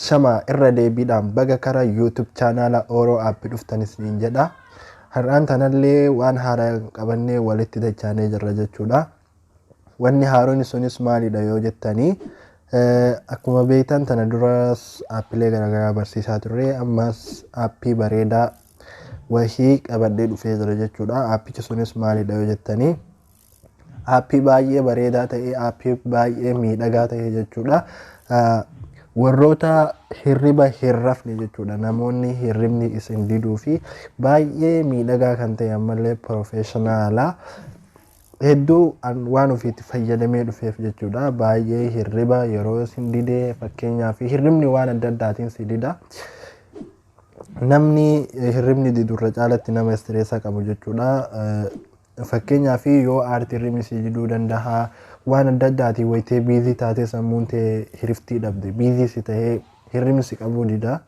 Shama irra deebiidhaan baga kara YouTube chaanaala Oro App dhuftan isiniin jedha. Har'aan tanallee waan haaraa qabannee walitti dachaanee jirra jechuudha. Wanni haaroni sunis maalidha yoo jettani akkuma beektan tana duras aappilee garaagaraa barsiisaa turre ammas aappii bareedaa wahii qabadhee dhufee jira jechuudha. Aappichi sunis maalidha yoo jettani aappii baay'ee bareedaa ta'e aappii baay'ee miidhagaa ta'e jechuudha. Warroota hirriba hin rafne jechuudha namoonni hirribni isin diduu fi baay'ee miidhagaa kan ta'e ammallee piroofeeshinaala. hedduu an waan ofiitti fayyadamee dhufeef jechuudha. Baay'ee hirriba yeroo sin didee fakkeenyaaf hirribni waan adda addaatiin si dida. Namni hirribni didu irra caalatti nama istireessa qabu jechuudha. Fakkeenyaaf yoo aarti hirribni si diduu danda'a. Waan adda addaatiin wayitee biizii taatee sammuun tee hiriftii dhabde. Biizii si ta'ee hirribni si qabuu dida.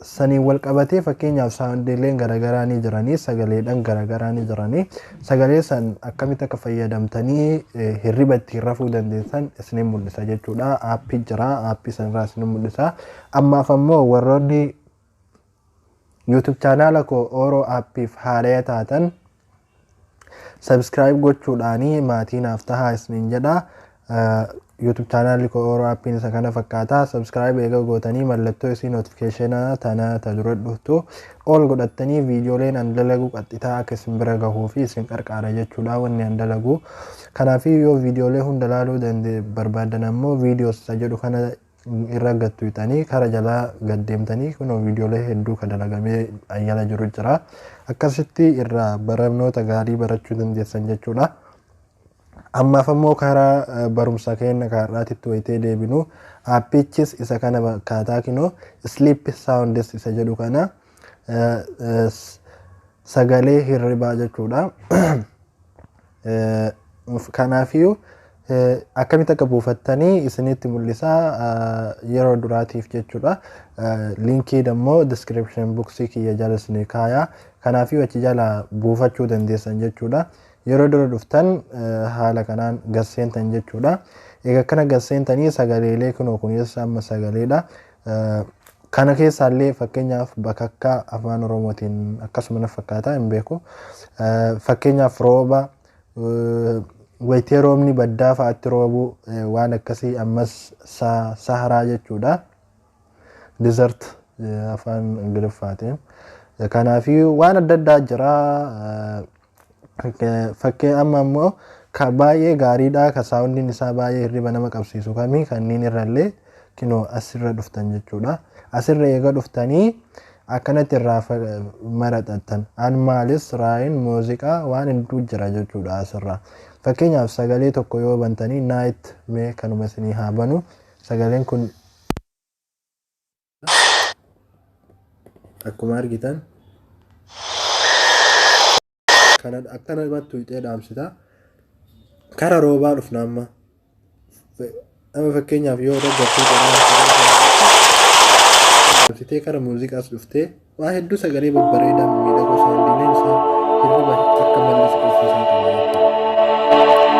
Saniin wal qabatee fakkeenyaaf saawundiileen garaagaraa ni jiranii sagaleedhaan garaagaraa ni jiranii sagalee san akkamitti akka fayyadamtanii hirriba ittiin rafuu dandeessan isiniin mul'isa jechuudha. Aappii jira aappii sanirraa isiniin mul'isa. Ammaaf ammoo warroonni YouTube chaanaala koo Oro App'if haaraya taatan subscribe gochuudhaan maatii naaf tahaa isiniin jedha. YouTube chaanaalli koo Oro App'n isa kana fakkaata. Subscribe eega gootanii mallattoo isii notification tana ta dura dhuftu all godhattanii viidiyooleen an dalagu qaxxitaa akka isin bira gahuu fi isin qarqaara jechuudha wanni an dalagu. Kanaafii yoo viidiyoolee hunda laaluu dande barbaaddan ammoo videos isa jedhu kana irra gad tuyxanii kara jalaa gad deemtanii kunoo viidiyoolee hedduu ka dalagamee ayyala jiru jira akkasitti irraa barnoota gaarii barachuu dandeessan jechuudha. Ammaaf ammoo karaa eh, barumsa keenya kaarraatitti wayitee deebinu aappichis isa kana fakkaataa kinoo sleep sounds isa jedhu kana eh, eh, s- sagalee hirribaa jechuudha. Kanaafiyuu akkamitti akka buufattanii isinitti mul'isaa yeroo duraatiif jechuudha. Linkii dammoo description boxii kiyya jala isinii kaayaa. Kanaafiyuu achi jala buufachuu dandeessan jechuudha. Yeroo dura dhuftan haala kanaan gasseentan jechuudha. Egaa akkana gasseentanii sagaleelee kunoo kunis amma sagaleedha. Kana keessaa illee fakkeenyaaf bakakkaa afaan oromootiin akkasuma na fakkaataa hin beeku. Fakkeenyaaf rooba wayitee roobni baddaa fa'aatti roobu waan akkasii ammas saharaa jechuudha. Desert afaan ingiliffaatiin. Kanaafii waan adda addaa jira. Fakkee amma ammoo ka baay'ee gaariidha ka saawundiin isaa baay'ee hirriba nama qabsiisu kami kanniin irrallee kinoo asirra dhuftan jechuudha. Asirra eega dhuftanii akkanatti irraa maraxattan an maalis raayin muuziqaa waan hedduu jira jechuudha asirraa. Fakkeenyaaf sagalee tokko yoo bantanii naayit mee kanuma isinii haa banu sagaleen kun akkuma argitan kana akkana mattu hixee dhaamsita kara roobaa dhufna amma amma fakkeenyaaf yoo dhaggeeffatu dhaamsitee kara muuziqaas dhuftee Waa hedduu sagalee babbareedaa mimmiidhagoo saawundiileen isaa hirriba akka malle si tursiisaa ture jechuudha.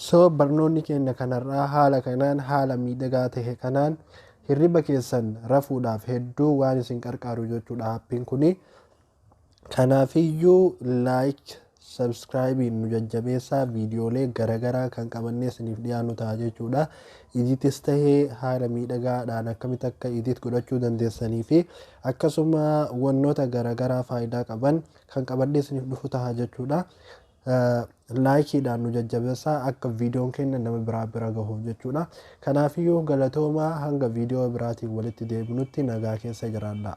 So barnoonni keenya kan har'aa haala kanaan haala miidhagaa tahe kanaan hirriba keessan rafuudhaaf hedduu waan isin qarqaaru jechuudha appiin kuni. Kanaafiyyuu like subscribein nu jajjabeessaa viidiyoolee garagaraa kan qabannee isiniif dhiyaannu ta'a jechuudha. Iditis tahee haala miidhagaadhaan akkamitti akka idit godhachuu dandeessanii fi akkasuma wannoota garagaraa faayidaa qaban kan qabannee isiniif dhufu ta'a jechuudha. Like dhaan nu jajjabessa akka videon keenya nama biraa bira gahuuf jechuudha. Kanaafiyyuu galatoomaa hanga video biraatiin walitti deebinutti nagaa keessa jiraadhaa.